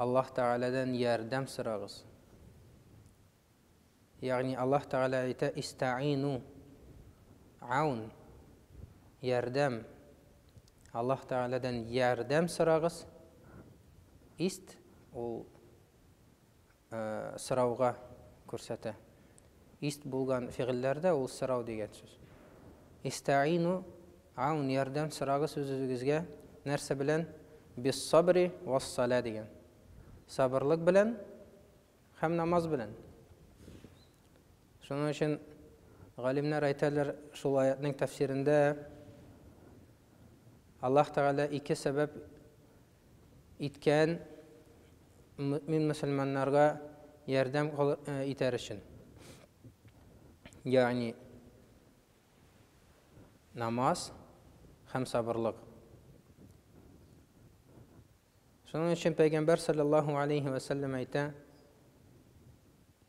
Аллаһ Тәгаләдән ярдәм сорагыз. Ягъни Аллаһ Тәгалә әйтә, Истәгыйну, гаун, ярдәм. Аллаһ Тәгаләдән ярдәм сорагыз. Ист, ул, сорауга күрсәтә. Ист булган фигыльләрдә ул сорау дигән сүз. Истәину, аун, ярдәм сорагыз үзегезгә, нәрсә белән? Биссабри вассалә дигән. Сабырлык белән һәм намаз белән. Шуның өчен галимнәр әйтәләр шул аятның тәфсирендә Аллаһ Тәгалә ике сәбәп Иткән, мөэмин мөселманнарга ярдәм итәр өчен. Ягъни намаз һәм сабырлык. Шуның өчен Пәйгамбәр саллаллаһу алейһи вә сәлләм әйтә,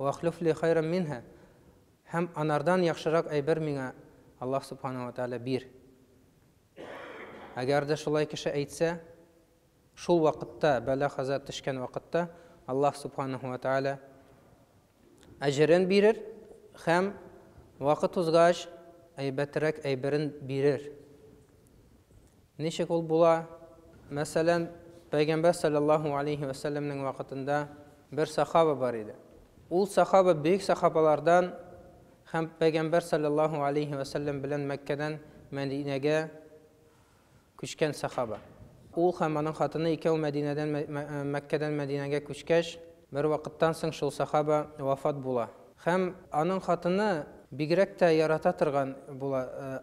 Вәхлүф ли хайран минһа, һәм анардан яхшырак әйбер миңа, Аллаһ Сүбхәнәһү вә Тәгалә, бир. Әгәр дә шулай кеше әйтсә, шул вакытта, бәла-каза төшкән вакытта, Аллаһ Сүбхәнәһү вә Тәгалә әҗерен бирер һәм вакыт узгач әйбәтрәк әйберен бирер. Ничек ул була? Мәсәлән, Пәйгамбәр салләллаһу галәйһи вә сәлләмнең вакытында бер сахаба бар иде. Ул сахаба бөек сахабалардан һәм Пәйгамбәр салләллаһу галәйһи вә сәлләм белән Мәккәдән Мәдинәгә күчкән сахаба. Ул һәм аның хатыны икәү Мәдинәдән Мәккәдән Мәдинәгә күчкәч, бервакыттан соң шул сахаба вафат була. Һәм аның хатыны бигрәк тә ярата торган була.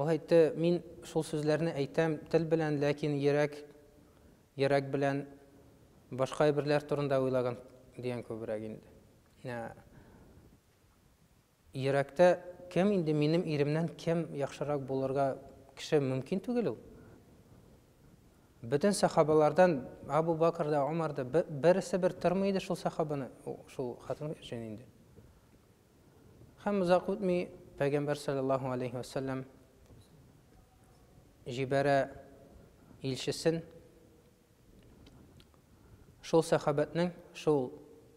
Ул әйтте, мин шул сүзләрне әйтәм тел белән, ләкин йөрәк, йөрәк белән башка әйберләр турында уйлаган дигән күбрәк инде. Ә, йөрәктә кем инде минем иремнән кем яхшырак булырга кеше мөмкин түгел ул. Бөтен сахабалардан Абу Бакр да, Умар да берсе бер тормый иде шул сахабаны, шул хатын өчен инде. Һәм озак үтми Пәйгамбәр саллаллаһу алейһи вә сәлләм җибәрә илчесен шул сәхабәтнең, шул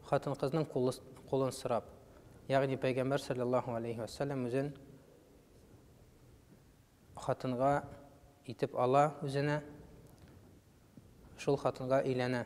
хатын-кызның кулын сорап. Ягъни Пәйгамбәр саллаллаһу алейһи вә сәлләм үзен хатынга итеп ала үзенә, шул хатынга өйләнә.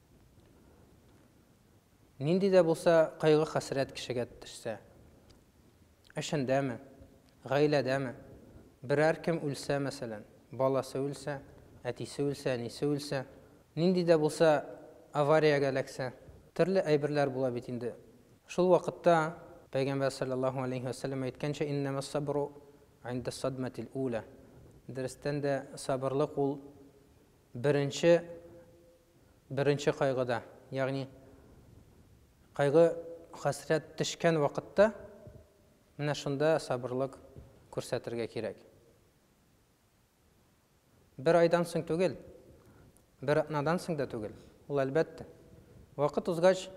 Нинди дә булса кайгы-хәсрәт кешегә төшсә, эшендәме, гаиләдәме, берәр кем үлсә, мәсәлән, баласы үлсә, әтисе үлсә, әнисе үлсә, нинди дә булса авариягә эләксә, төрле әйберләр була бит инде. Шул вакытта Пәйгамбәр салләллаһу алейһи вә сәлләм әйткәнчә, иннәмәссабру индәссадмәтил үла. Дөрестән дә, сабырлык ул беренче Беренче кайгыда, ягъни кайгы-хәсрәт төшкән вакытта, менә шунда сабырлык күрсәтергә кирәк. Бер айдан соң түгел, бер атнадан соң да түгел, ул әлбәттә. Вакыт узгач,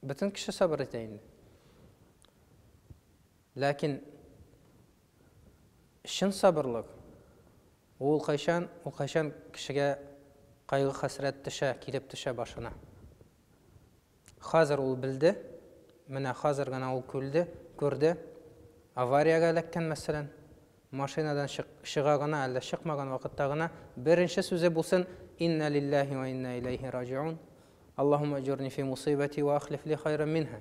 бөтен кеше сабыр итә инде. Ләкин Чын сабырлык, ул кайчан, ул кайчан кешегә кайгы-хәсрәт төшә, килеп төшә башына? Хәзер ул белде, менә хәзер генә ул күлде, күрде, авариягә эләккән, мәсәлән, машинадан чык, чыга гына, әллә чыкмаган вакытта гына беренче сүзе булсын, Инна лиллаһи вә инна иләйһи раҗиун, Аллаһуммә әҗурни фи мусыйбати вә ахлиф ли хайран минһа.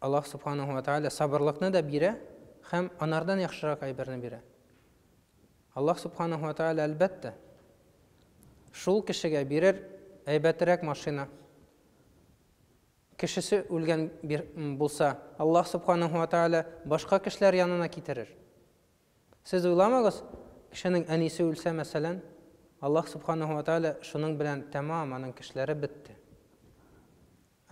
Аллаһ Субханаһу ва Тәгалә сабырлыкны да бирә һәм анардан яхшырак әйберне бирә. Аллаһ Субханаһу ва Тәгалә, әлбәттә, шул кешегә бирер әйбәтерәк машина. Кешесе үлгән булса, Аллаһ Субханаһу ва Тәгалә башка кешеләр янына китерер. Сез уйламагыз, кешенең әнисе үлсә, мәсәлән, Аллаһ Субханаһу ва Тәгалә шуның белән тәмам аның кешеләре бетте.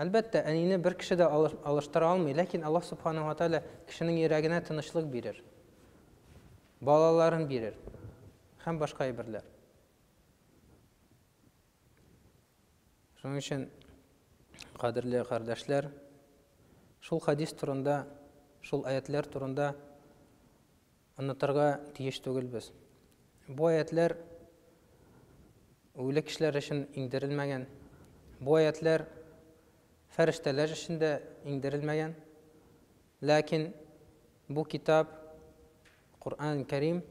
Әлбәттә, әнине бер кеше дә алыштыра алмый, ләкин Аллаһ Субханаһу ва Тәгалә кешенең йөрәгенә тынычлык бирер, балаларын бирер һәм башка әйберләр. Шуның өчен, кадерле кардәшләр, шул хадис турында, шул аятләр турында Онытырга тиеш түгелбез. Бу аятьләр үле кешеләр өчен иңдерелмәгән. Бу аятьләр фәрештәләр өчен дә иңдерелмәгән. Ләкин бу китап, Коръән Кәрим,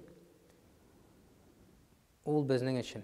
ул безнең өчен.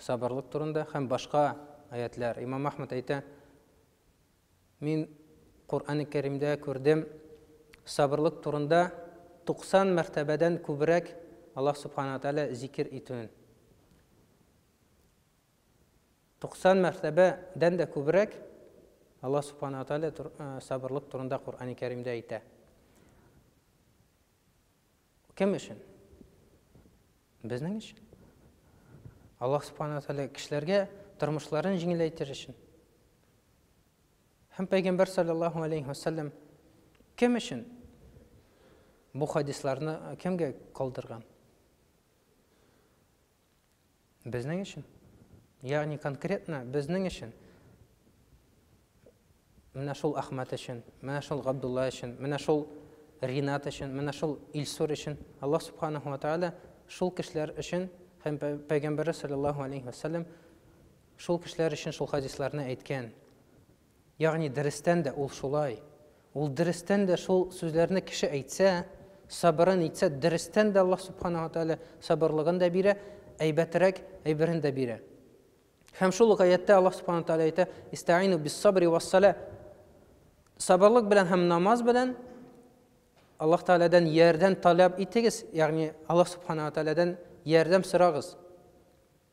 Сабырлык турында һәм башка аятьләр. Имам Ахмад әйтә, мин Коръәни Кәримдә күрдем, сабырлык турында 90 мәртәбәдән күбрәк Аллаһ Субхана Тәгалә зикер итүен. 90 мәртәбәдән дә күбрәк Аллаһ Субхана Тәгалә сабырлык турында Коръәни Кәримдә әйтә. Кем өчен? Безнең өчен. Аллаһ Субхану Тәгалә кешеләргә тормышларын җиңеләйтер өчен. Һәм Пәйгамбәр саллаллаһу алейхи ва саллям кем өчен бу хадисларны кемгә калдырган? Безнең өчен. Ягъни конкретно безнең өчен. Менә шул Ахмат өчен, менә шул Габдулла өчен, менә шул Ринат өчен, менә шул Илсур өчен. Аллаһ Субханаһу ва Тааля шул кешеләр өчен һәм Пәйгамбәре саллаллаһу алейхи ва саллям шул кешеләр өчен шул хадисларны әйткән. Ягъни дөрестән дә ул шулай. Ул дөрестән дә шул сүзләрне кеше әйтсә, сабырын итсә, дөрестән дә Аллаһ Субханаһу ва Тәгалә сабырлыгын да бирә, әйбәтрәк әйберен дә бирә. Һәм шул ук аяттә Аллаһ Субханаһу ва Тәгалә әйтә, Истаину бис-сабри вас-салә. Сабырлык белән һәм намаз белән Аллаһ Тәгаләдән ярдәм таләп итегез, ягъни Аллаһ Субханаһу ва Тәгаләдән ярдәм сорагыз.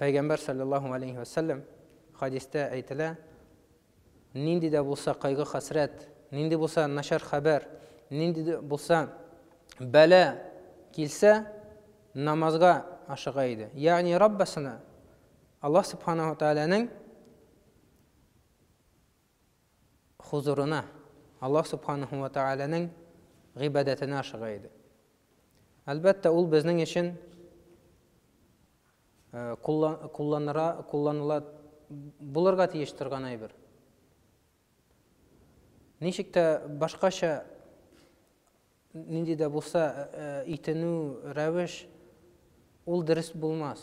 Пәйгамбәр саллаллаһу алейһи вә сәлләм хадистә әйтелә, нинди дә булса кайгы хәсрәт, нинди булса начар хәбәр, нинди дә булса бәлә килсә, намазга ашыга иде. Ягъни Раббасына Аллаһ субханаһу тааляның хозурына, Аллаһ Субханаһу ва Тәгаләнең гыйбадәтенә ашыга иде. Әлбәттә, ул безнең өчен кулланыла, кулланыла булырга тиеш торган әйбер. Ничек тә башкача нинди дә булса итенү рәвеш ул дөрес булмас.